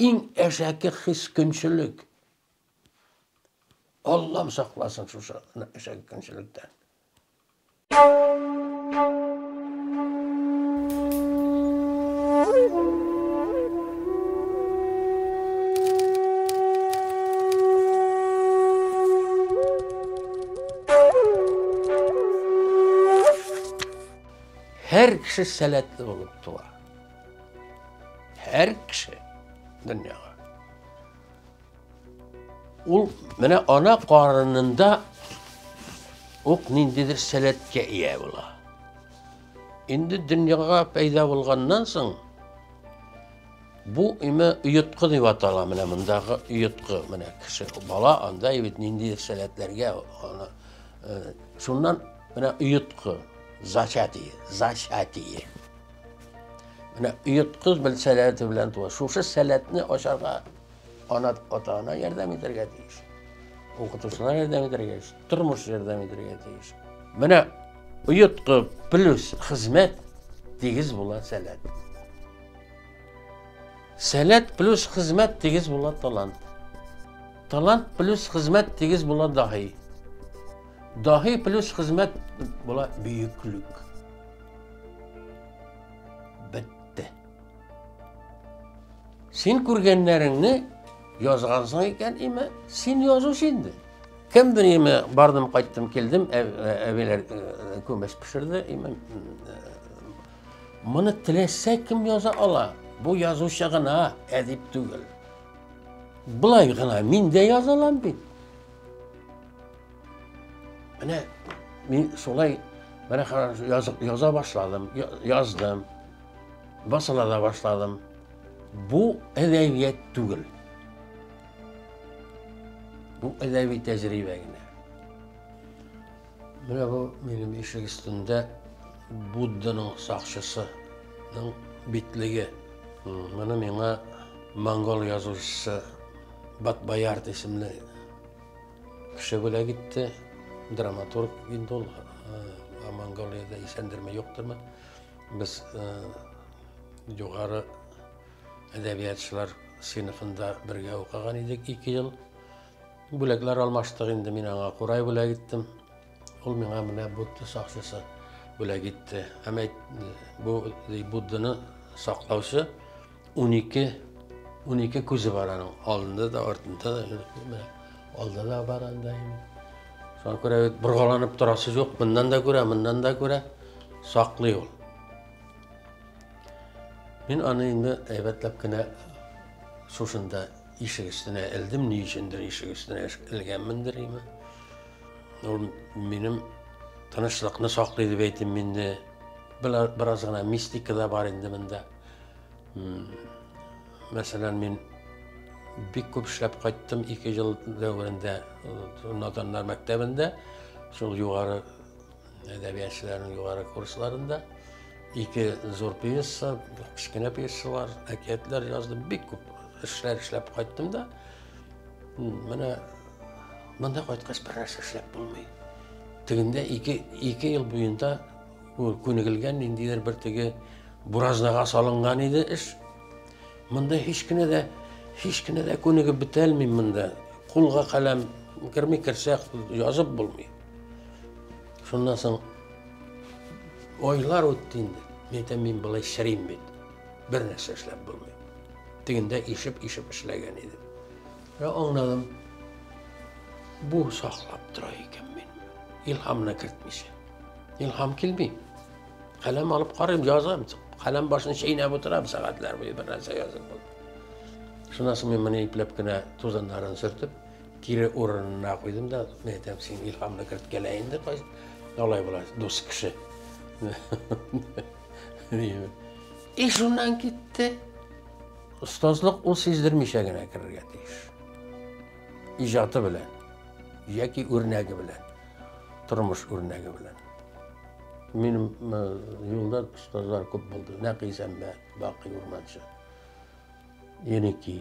Иң әшәке хис көнчелек. Аллам сакласын шушы әшәке көнчелектән. Һәр кеше сәләтле булып туа. Һәр кеше дөньяга. Ул менә ана карынында ук ниндидер сәләткә ия була. Инде дөньяга пәйда булганнан соң бу име оеткы дип атала менә мондагы оеткы менә кеше бала анда бит ниндидер сәләтләргә аны э, шуннан менә оеткы зачатие зачатие Менә йоткыз бел сәләте белән туа. Шушы сәләтне ашарга ана ата-ана ярдәм итәргә тиеш. Укытучылар ярдәм итәргә тиеш. Тормыш ярдәм итәргә тиеш. Менә оеткы плюс хезмәт тигез була сәләт. Сәләт плюс хезмәт тигез була талант. Талант плюс хезмәт тигез була даһи. Даһи плюс хезмәт була бөеклек. Бетте. Син күргәннәреңне язгансың икән, име, син язуч инде. Кемдер име бардым, кайттым, килдем, әбиләр күмәс пешерде, име. Моны теләсә кем яза ала. Бу язучы гына әдип түгел. Былай гына мин дә язалам бит. Менә мин шулай менә язып яза башладым, яздым. Басыла да башладым. Бу әдәбият түгел. Бу әдәби тәҗрибә генә. Менә бу минем ишек өстендә Будданың сакчысының битлеге. Моны миңа монгол язучысы Батбаярд исемле Кеше бүләк итте, драматург инде ул э, Монголиядә исәндерме, юктырмы. Без э, югары әдәбиятчылар сыйныфында бергә укыган идек ике ел. Бүләкләр алмаштык инде, мин аңа курай бүләк иттем. Ул миңа менә Будда сакчысы бүләк итте. Һәм әйт, бу Будданы саклаучы 12 12 күзе бар аның. Алдында да, артында да, алда да бар анда. Шуңа күрә бит боргаланып торасы юк, моннан да күрә, моннан да күрә саклый ул. Мин аны инде әйбәтләп кенә шушында ишек өстенә элдем, ни өчендер ишек өстенә элгәнмендер име. Ул минем тынычлыкны саклый дип әйтим инде. Бераз гына мистика да бар инде монда. Мәсәлән, мин бик күп эшләп кайттым ике ел дәверендә наданнар мәктәбендә. Шул югары Әдәбиятчыларның югары курсларында ике зур пьеса, кечкенә пьесалар, әкиятләр яздым. Бик күп эшләр эшләп кайттым да. Менә монда кайткач бераз эшләп булмый. Тегендә ике, ике ел буенда күнегелгән ниндидер бер теге буразнага салынган иде эш. Монда һич кенә дә һич кенә дә күнегеп бетә алмыйм монда. Кулга каләм керми керсә язып булмый. Шуннан соң айлар үтте инде. Мин әйтәм, мин былай шәрим бит. Бер нәрсә эшләп булмый. Тегендә ишеп-ишеп эшләгән идем. Һәм аңладым. Бу саклап тора икән мин. Илһамны кертмичә. Илһам килми. Каләм алып карыйм, язам. Каләм башын чәйнәп утырам сәгатьләр буе бер нәрсә язып. Шуннан соң мин моны ипләп кенә тузаннарын сөртеп, Кире урынына куйдым да, мен әйтәм, син илһамны керткәлә инде, кайс. Алай була, дус кеше. И шуннан китте. Остазлык ул сиздермичә генә керергә тиеш. Иҗаты белән, яки үрнәге белән, тормыш үрнәге белән. Минем юлда остазлар күп булды. Нәкыйсәмбә, Бакый Урманчы, Еники,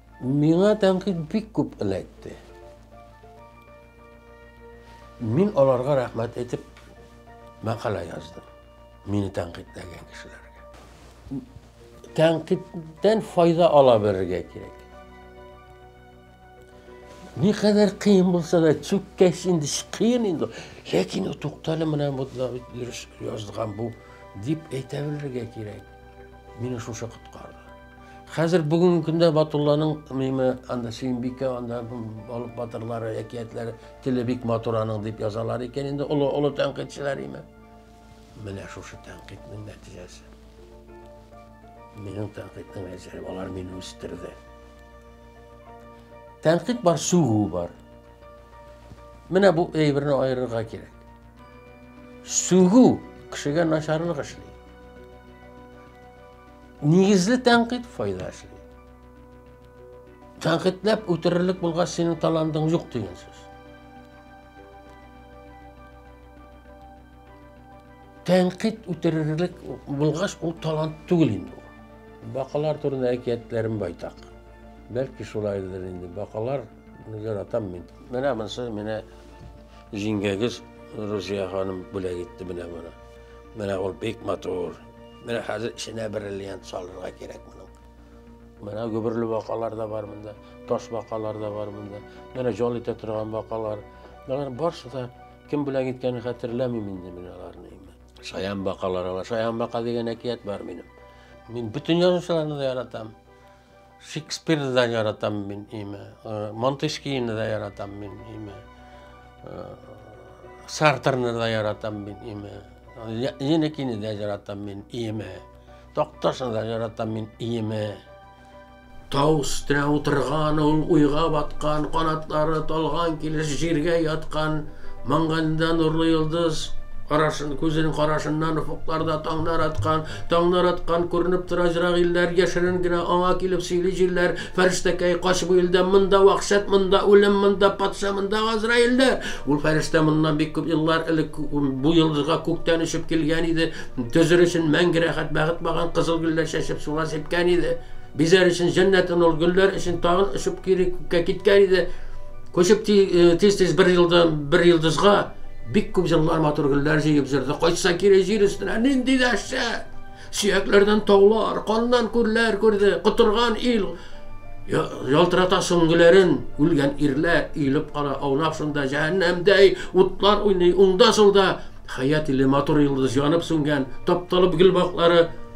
Миңа тәнкыйть бик күп эләкте. Мин аларга рәхмәт әйтеп мәкалә яздым. Мине тәнкыйтьләгән кешеләргә. Тәнкыйтьтән файда ала белергә кирәк. Ни кадәр кыен булса да, чүккәч инде кыен инде. Ләкин туктале менән бу дөрес язган бу дип әйтә белергә кирәк. Мине шушы коткарды. Хәзер бүгенге көндә Батулланың миме анда Сөембикә, анда балык батырлары, әкиятләре теле бик матур аның дип язалар икән инде олы олы тәнкыйтьчеләр име. Менә шушы тәнкыйтьнең нәтиҗәсе. Минем тәнкыйтьнең әҗәре, алар мине үстерде. Тәнкыйть бар, сүгү бар. Менә бу әйберне аерырга кирәк. Сүгү кешегә начарлык эшли. Нигезле тәнкыйть файда эшли. Тәнкыйтьләп үтерерлек булгач, синең талантың юк дигән сүз. Тәнкыйть үтерерлек булгач, ул талант түгел инде. Бакалар турында әкиятләрем байтак. Бәлки шулайдыр инде. Бакалар яратам мин. Менә монысы менә җиңгәгез Рузия ханым бүләк итте менә моны. Менә ул бик матур. Менә хәзер эченә бриллиант салырга кирәк моның. Менә гөберле бакалар да бар монда, таш бакалар да бар монда. Менә җол итә торган бакалар. Алар барысы да кем белән киткәнен хәтерләмим инде мин аларны. Шаян бакалар ала. Шаян бака дигән әкият бар минем. Мин бөтен язучыларны да яратам. Шекспирді да яратам мен име, Монтескийді да яратам мен име, Сартрны да яратам мен име, Енекини да яратам мен име, Токтошны да яратам мен име. Тау үстерә утырган ул уйга баткан, канатлары талган килеш җиргә яткан, маңганда нурлы йолдыз, карашын күзен карашыннан офыкларда таңнар аткан, Таңнар аткан, күренеп тора җырак илләр, Яшерен генә аңа килеп сөйли җилләр. Фәрештәкәй, кач бу илдән, монда вәхшәт, Монда үлем, монда патша, монда газраилләр. Ул фәрештә моннан бик күп еллар элек Бу йолдызга күктән очып килгән иде. Төзер өчен мәңге рәхәт бәхет багын Кызыл гөлләр чәчеп сулар сипкән иде. Бизәр өчен җәннәтен ул гөлләр өчен Тагын очып кире күккә киткән иде. Күчеп тиз-тиз бер елдан бер йолдызга бик күп җыллар матур гөлләр җыеп җөрде. Кайтса кире җир өстенә нинди дәшә! Сөякләрдән таулар, каннан күлләр күрде. Котырган ил ялтырата сөңгеләрен, үлгән ирләр иелеп кала, аунап шунда җәһәннәмдәй утлар уйный. Уңда-сулда хәят иле матур йолдыз янып сүнгән, тапталып гөл баклары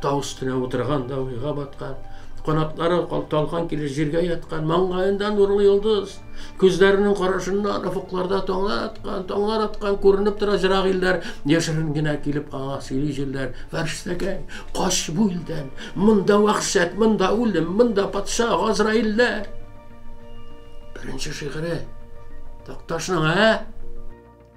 Тау өстенә утырган да уйга баткан, канатлары калталган килеш җиргә яткан, маңгаенда нурлы йолдыз, күзләренең карашыннан офыкларда таңнар аткан, таңнар аткан күренеп тора җырак илләр, яшерен генә килеп аңа сөйли җилләр, фәрштәгәй, кач бу илдән, монда вәхшәт, монда үлем, монда патша, газраилләр. Беренче шигыре Такташның, ә?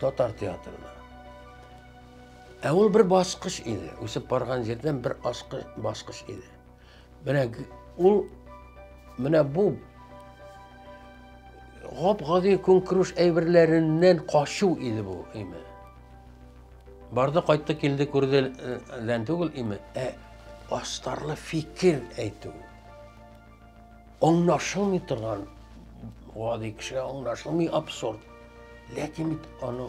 Татар театрына. Ә ул бер баскыч иде. Үсеп барган җирдән бер аскы баскыч иде. Менә ул менә бу гап-гади көнкүреш әйберләреннән качу иде бу име. Барды кайтты килде күрделән түгел име, ә астарлы фикер әйтү. Аңлашылмый торган, гади кешегә аңлашылмый абсурд. Ләкин бит аның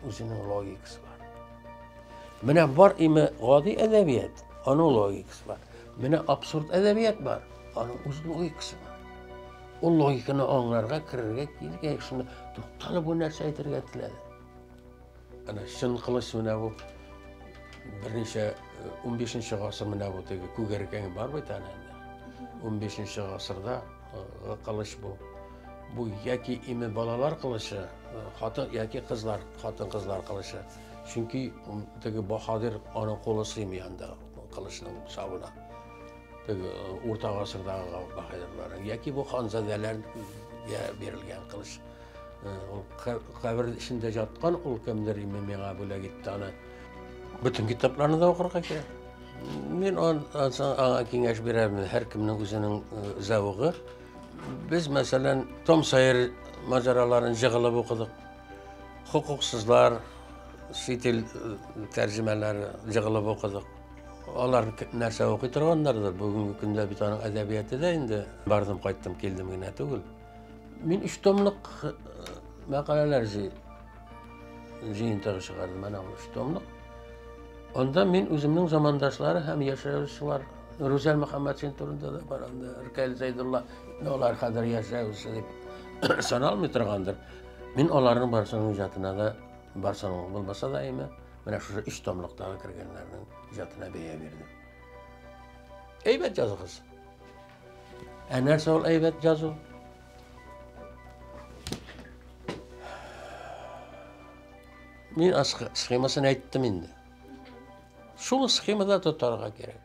үзенең логикасы бар. Менә бар име гади әдәбият, аның логикасы бар. Менә абсурд әдәбият бар, аның үз логикасы бар. Ул логиканы аңларга, керергә кирәк, шуны тукталып бу нәрсә әйтергә теләде. Әнә чын кылыч менә бу. Берничә 15-нче э, гасыр менә бу теге күгәркәң бар бит әнә. 15-нче гасырда э, кылыч бу. Бу яки име балалар кылычы, э, хатын яки кызлар, хатын-кызлар кылычы. Чөнки теге баһадир аны кулы сыймый анда кылычның сабына. Теге урта гасырдагы баһадирлар. Яки бу ханзадәләр бирелгән кылыч. Ул кабер эчендә яткан ул кемдер име миңа бүләк итте аны. Бөтен китапларны да укырга кирәк. Мин аңа киңәш бирәмен, һәркемнең үзенең зәвыгы. Без, мәсәлән, Том Сайер маҗараларын җыгылып укыдык. Хукуксызлар, ситил тәрҗемәләре җыгылып укыдык. Алар нәрсә укый торганнардыр? Бүгенге көндә бит аның әдәбияты да инде бардым, кайттым, килдем генә түгел. Мин өч томлык э, мәкаләләр җыентыгы чыгардым, әнә ул өч томлык. Анда мин үземнең замандашлары һәм яшәүчеләр Рүзәл Мөхәммәтшин турында да бар, анда Ркәл Зәйдулла, алар хәзер яшәүче дип саналмый торгандыр. Мин аларның барсының иҗатына да барсының булмаса да әйме, менә шушы өч томлыктагы кергәннәрнең иҗатына бәя бирдем. Әйбәт языгыз. Ә нәрсә ул әйбәт язу? Мин схемасын әйттем инде. Шул схемада тотарга кирәк.